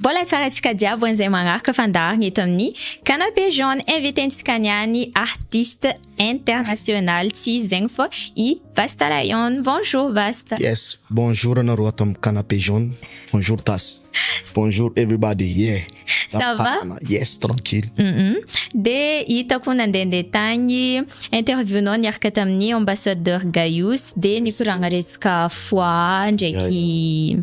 Mbola hatsarantsika jiaby an'izay manaraka fandaharana eto amin'ny Canapé Jaune. Inviten-tsika niany artiste international tsy iza zegny fa i Vasta Lion. Bonjour Vasta. Yes, bonjour anareo ato amin'ny Canapé Jaune. Bonjour Tasy. Bonjour everybody, yeah. Ça va? Yes, tranquille. Dia hitako nandehandeha tagny interview-nao niaraka tamin'ny ambassadeur Gayus dia nikoragna resaka foie ndraiky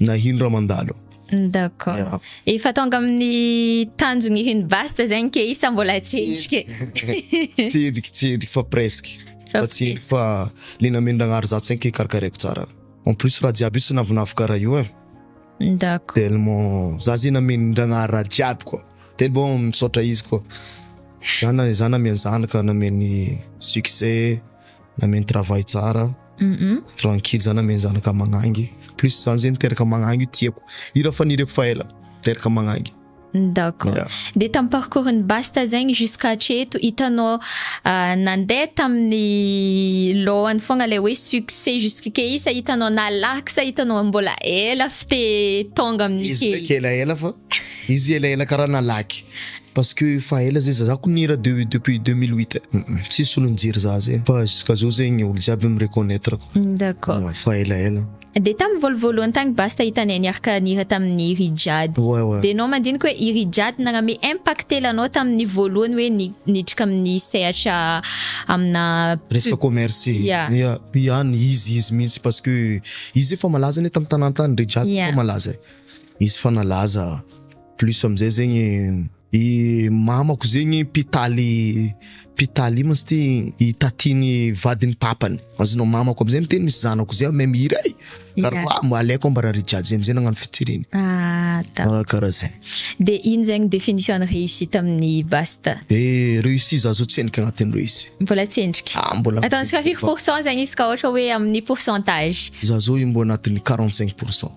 nahino raha mandalo. D'accord. Yeah. Efa tonga amin'ny tanjony hino basta zegny ke isa mbola tsendriky. Tsendriky tsendriky fa presque. Fa tsendriky fa le namendragnary za tsy ke karakaraiko tsara. En plus raha jiaby io tsy navinavy karaha io eh. D'accord. Tellement za zegny namendragnary raha jiaby quoi. Telo bon misaotra izy quoi. Za na za nameny zanaka, nameny succès, Nameno travail tsara. Tranquille za nameno zanaka magnangy. Plus zany zegny teraka magnangy io tiako. Io raha faniriako fa ela. Teraka magnangy. D'accord. Dia tamin'ny parcours n'i Basta zegny jusqu'à hatreto hitanao nandeha tamin'ny lohany foagna ilay hoe succès jusque isa hitanao nalaky sa hitanao mbola ela f'te tonga amin'ity. Izy ndraiky elaela fa. Izy elaela karaha nalaky parce que efa ela zay zazako nihira de depuis deux mille huit tsisy olo nijery za zay fa jusqu'à zao zegny olo jiaby mi reconnaître ko D'accord. efa elaela. Dia tamin'ny voalovoalohany tagny Basta hitanay niarka nihira tamin'ny i Rijad. Ouais ouais. Dia enao mandinika hoe i Rijad nagname impactel anao tamin'ny voalohany hoe ni- nidrika amin'ny sehatra amina Resaka commerce. Ya. Ya, ihany izy izy mihitsy parce que izy efa malaza anie tamin'ny tanà tany Rijad Yeah. efa malaza e. Izy fa nalaza plus amizay zegny. I mamako zegny mpitaly mpitaly ino moa izy ty i tatiny vadiny papany azonao mamako amizay miteny misy zanako zay mahay mihira ai kara hoa aleoko ambara re jiaby zay amizay nagnano featuring ah kara zay de ino zegny definition ny réussite aminy basta e réussi za zao tsendriky agnatiny réussi mbola tsendriky ah mbola ataontsika firy pourcent zegny izy ka ohatra hoe aminy pourcentage za zao i mbo agnatiny quarante cinq pourcent.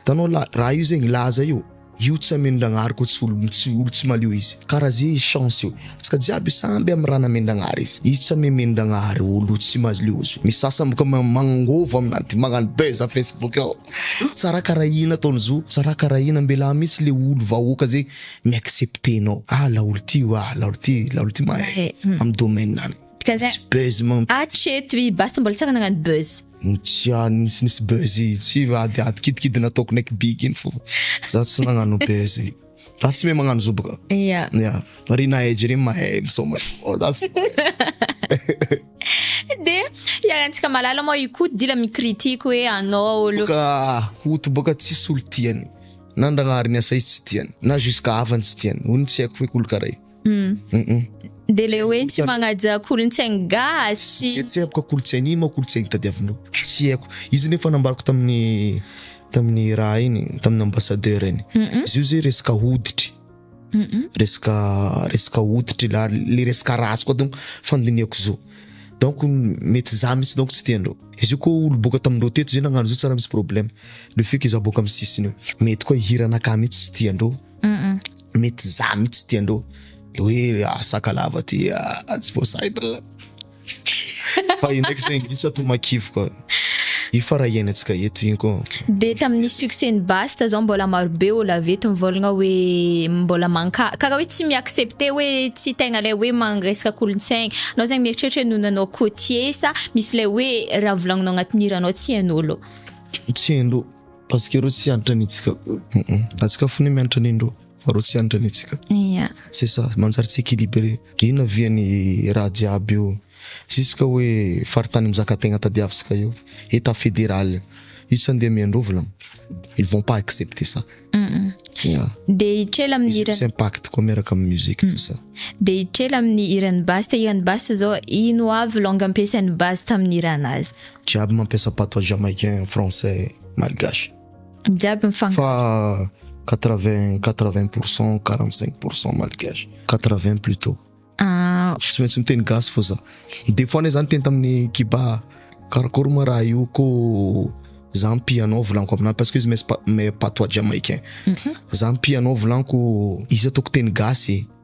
Hitanao la raha io zegny laza io, io tsy amen-dragnahary koa tsy olo tsy olo tsy malio izy kara ze izy chance io tsika jiaby samby amy raha namen-dragnahary izy izy tsy amemen-dragnahary olo tsy malio zo misy sasany boka ma magnangôvo amin'ady magnano buzz a facebook ao sa raha kara ina ataony zo sa raha kara ina ambela mitsy le olo vahoaka ze mi accepte nao ah laolo ty o ah laolo ty laolo ty mahay amy domaine any tsy buzz man Hatreto i Basta mbola tsy afaka nagnano buzz. Otrany tsy nisy buzz itsy fa ady ady kidikidy nataoko neck big iny fo. Za tsy nagnano buzz. Za tsy mahay magnano zoba ka. Ia. Ia. Fa ry Nahay Jeremy mahay misaoma. Fa za tsy mahay. De iarahantsika malala moa i Koto dila mi-critique hoe anao olo. Ka Koto boka tsisy olo tiany. Na Ndragnahary Niasa izy tsy tiany. Na jusqu'à havany tsy tiany. Ony tsy haiko hoe olo karaha i. Dia ilay hoe tsy magnaja kolontsainy gasy. Tsy tsy haiko kolontsainy inona kolontsainy tadiavinao. Tsy haiko. Izy nefa nambarako tamin'ny tamin'ny raha iny, tamin'ny ambassadeur iny. Izy io zay resaka hoditry. Resaka resaka hoditry la le resaka race koa donc fandinihako zao. Donc mety za mihitsy donc tsy tiandreo. Izy io koa olo boaka tamindreo teto zay nagnano zay tsy raha misy problème. Le fait que za boaka amin'ny sisiny io. Mety koa hiranakahy mihitsy tsy tiandreo. mety za mitsy tiandreo le hoe ah, sakalava ty ah, ah tsy voasahitra fa io ndraiky zegny mitsy ato makivy koa io fa raha hiainantsika eto igny koa de tamin'ny succès ny basta zao mbola marobe olo avy eto mivolagna hoe mbola manka karaha hoe tsy mi-accepter hoe tsy tegna lay hoe magnesaka kolontsaigny anao zegny mieritreritra hoe noho anao cotier sa misy lay hoe raha volagninao agnatin'ny hiranao tsy hain'olo tsy hain'olo Parce que reo tsy hanitra anitsika. Fa tsy ka fone mianitra anindreo fa reo tsy hanitra anitsika. Yeah. C'est ça, manjary tsy équilibré. Inona vian'ny raha jiaby io? Jusque hoe faritany mizaka tegna tadiavitsika io, état fédéral. Io tsy andeha amiandreo volana. Ils vont pas accepter ça. Yeah. Dia hitrela amin'ny Izy tsy impact koa miaraka amin'ny musique tout ça. Dia hitrela amin'ny hiran'ny Basta, hiran'ny Basta zao ino avy langue ampiasain'ny Basta tamin'ny hiranazy? Jiaby mampiasa patois jamaïcain, français, malgache. Jiaby mifangaro. Fa quatre vingt, quatre vingt pour cent, quarante cinq pour cent malgache, quatre vingt plutot. Ah. Tsy maintsy miteny gasy fô za. Des fois ne zany teny tamin'i Kiba, karakory ma raha io kô za mpianao volaniko aminà parce que izy mes pa- mes patois jamaïcain. Za mpianao volaniko izy ataoko teny gasy e.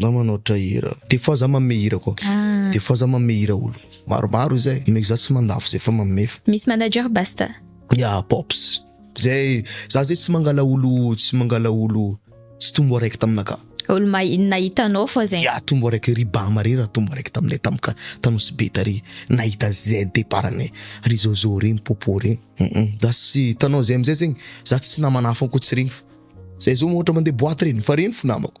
Na manoatra hira. Des fois za manome hira koa. Des fois za manome hira olo. Maromaro izay. Omeko za tsy mandafo zay fa manome fa. Misy manager basta. Ya pops. Zay za zay tsy mangala olo tsy mangala olo tsy tombo araiky taminaka. Olo ma inona hitanao fô zay. Ya tombo araiky ry bama rey ra tombo araiky taminay tamika ta nosy be tary nahita zay deparanay ry zôzô rey mipôpô rey hum za tsy hitanao zay amizay zegny za tsy namana hafa ankoatsy regny fa zay zao ohatra mande boite reny fa reny fo namako.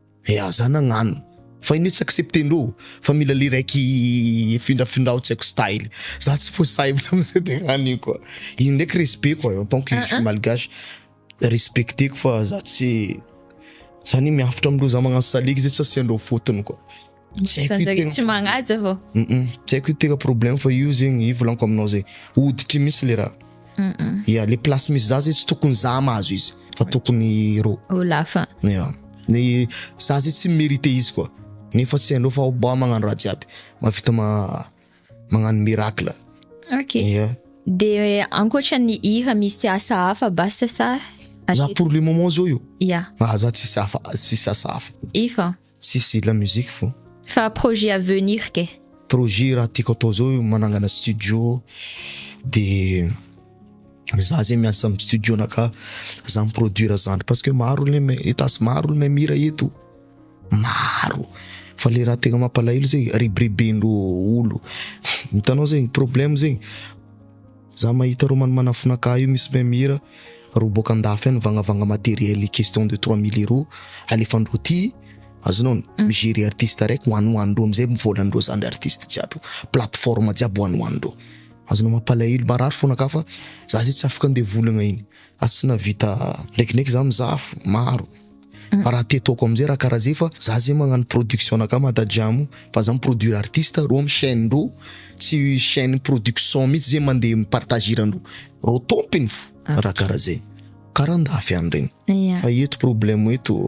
Eh aza nagnano fa ine tsy accepter ndrô fa mila le raiky efindrafindrao tsy aiko style za tsy possible amzay de hany io koa iny ndraiky respect koa en tant que je suis malgache respecteko fa za tsy za anie miavotra amindreo za magnano salegy zay tsy asiandreo faute-ny koa. Tsy haiko io tegna- tsy magnaja vao tsy haiko io tegna problème fa io zegny io volaniko aminao zay hoditry misy le raha ya le place misy za zay tsy tokony za mahazo izy fa tokony rô olo hafa ya ny za zay tsy mi-merite izy koa nefa tsy hainareo fa mba magnano raha jiaby mahavita ma- magnano miracle ok ya de ankoatran'ny hira misy asa hafa basta sa za pour le moment zao io ya ah za tsisy hafa tsisy asa hafa efa Tsisy la musique fo. Fa projet à venir kay. Projet raha tiako atao zao manangana studio de za zay miasa am studio na ka za mi produire zandry parce que maro le me etas maro le mahay mihira eto maro fa le raha tegna mampalahelo zay ribiribin dreo olo hitanao zay problème zay. Za mahita romany manafonaka io misy meme hira roa boaka andafy any vagnavagna materiel question de trois mille euro alefandreo aty azonao ny mi gerer artiste raiky ho any ho any reo amizay volandreo zandry artiste jiaby io plateforme jiaby ho any ho any reo azonao mampalahelo marary fona ka fa za zay tsy afaka andevolagna iny Ary tsy nahavita nekineky za mizaha maro fa raha te toako amzay raha karaha zay fa za zay magnano production anakah matajamo fa za mi produire artiste reo am chaine ndreo tsy chaine production mitsy zay mande mi partage hirandreo reo tompiny fo raha karaha zay karaha andafy any regny fa eto problème eto.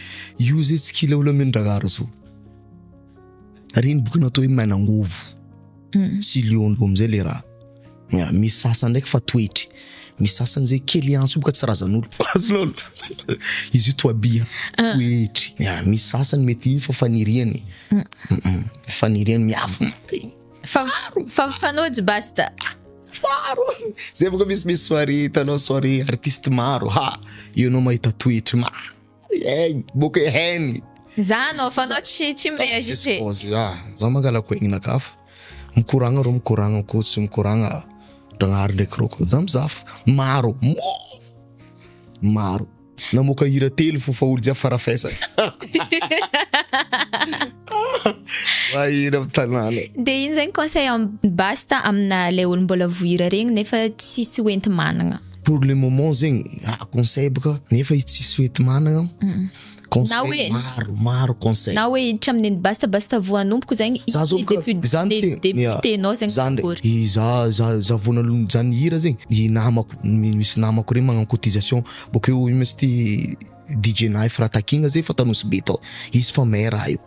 Io zay tsy kila olona mino dragara zao. Ary iny boky natao hoe Mainangovo hmm. sy Lion d'Homme zay le raha. Ya, misy sasany ndraiky fa toetry. Misy sasany zay kely antso boka tsy razan'olo. Azo lolo. Izy io toabia, ah. toetry. Ya, misy sasany mety iny fa faniriany. Hmm. Faniriany miavona. Fa fa fanojy basta. Faro. Zay boka misy misy soirée, hitanao soirée artiste maro. Ha, io anao mahita toetry maro. Eny, boky heny. Za anao fa anao tsy tsy mi-reagite. Za mangalako aignaka fa mikoragna rô mikoragna ko tsy mikoragna Ndragnahary ndraiky rô ko za mizaha fa maro maro namoaka hira telo fo fa olo jiaby farafesagna mahira am tanàna. De ino zegny conseil am basta amina le olo mbola voira regny nefa tsisy hoenti-managna. pour le moment zegny ah conseil boka nefa izy tsisy fety managna Na hoe- conseil maro maro conseil na hoe hiditra amin'ny ny basta basta voanompoko zegny Za zao boka- député- zany dé- te- député-nao zegny zany akory. ndray i za za za vao nalon- zany hira zegny i namako mi- misy namako reny magnano cotisation bokeo ino ma izy ty DJ Knife raha takiagna zay efa tao Nosy Be tao izy fa maire raha io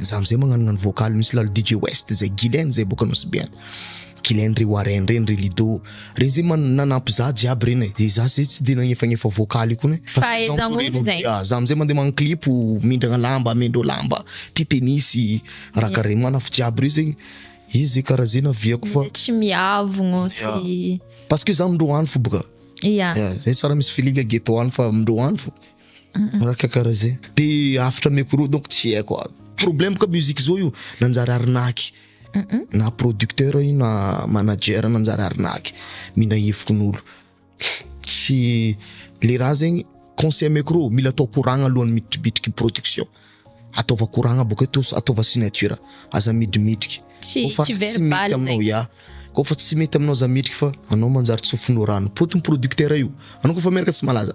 Za amzay magnanognano vocal misy lalo DJ West zay, Guylaine zay boka Nosy Be any, Guylaine ry Warren reny ry Lido, reny zay man- nanampy za jiaby reny e, de za zay tsy de nagnefagnefa vocal io kony e, fa zay zao Fahaizan'olo amporeriny, zay. ah, za amzay mande magnano clip mindragna lamba, mendreo lamba, ty tennis, raha karaha regny, manafo jiaby reo zegny, izy zay karaha zay naviako fa, Tsy miavogno sy parce que za amindreo any fo boka, ya. ya, zay tsara misy feeling ghetto any fa amindreo any fo. Araka karaha zay. De hafatra micro donc tsy haiko a. Problème ka musique zao io nanjary arnaque. Na producteur io na manager nanjary arnaque. Mila hevikon'olo. Tsy, le raha zegny conseil micro mila atao koragna alohan'ny mitribitriky production. Ataova koragna bôka eo to- ataova signature. Aza midimitriky. Tsy- Kôfa tsy mety verbal aminao, zegny. ya. Kôfa tsy mety aminao aza midriky fa anao manjary tsofinao rano. Potin'ny producteur io. Anao kôfa miaraka tsy malaza.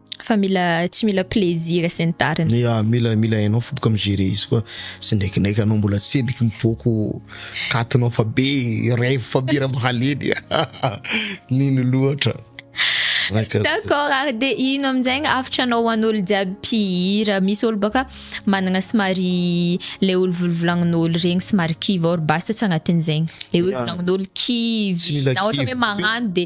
Fa mila tsy mila plaisir sy ny tariny. Ia, mila mila hainao fo boka mi-gérer izy koa. Tsy ndraikindraika anao mbola tsemboky mipoako katinao fa be rêve fa be raha mahaleny. Mino loatra. D'accord ary de ino amin'izay ny hafitra anao ho an'olo jiaby mpihira. Misy olo baka manana somary le olo volovolagnin'olo regny somary kivy ao ry basta tsy agnatin'izegny. Le hoe volagnin'olo kivy na ohatra hoe magnano de.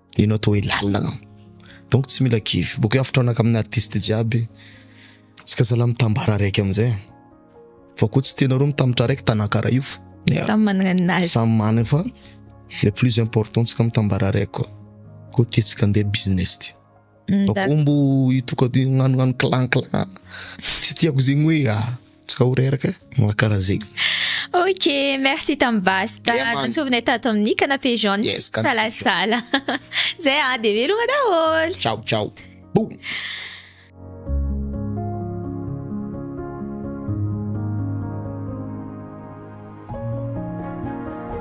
Ianao toa hoe lalina. Donc tsy mila kivy. Boka eo afotraonaka amin'ny artiste jiaby. Tsika zala mitambara araiky amin'izay. Fa koa tsy tena roa mitambatra araiky tanaka ray io fa. Samy manana ny nazy. Samy manana fa le plus important tsika mitambara araiky koa. Koa ty tsika ndeha business ty. Fa koa mbo hitoka-, hagnanognano clan clan. Tsy tiako zegny hoe ah. Tsika ho reraka moa karaha zegny. Ok, merci tamin'ny Basta Dia man- nantsovinay tato amin'ny canapé jaune Yes, tsy canapé jaune. misalasala. Zay ah, dia veloma daholo. Ciao ciao. Boum.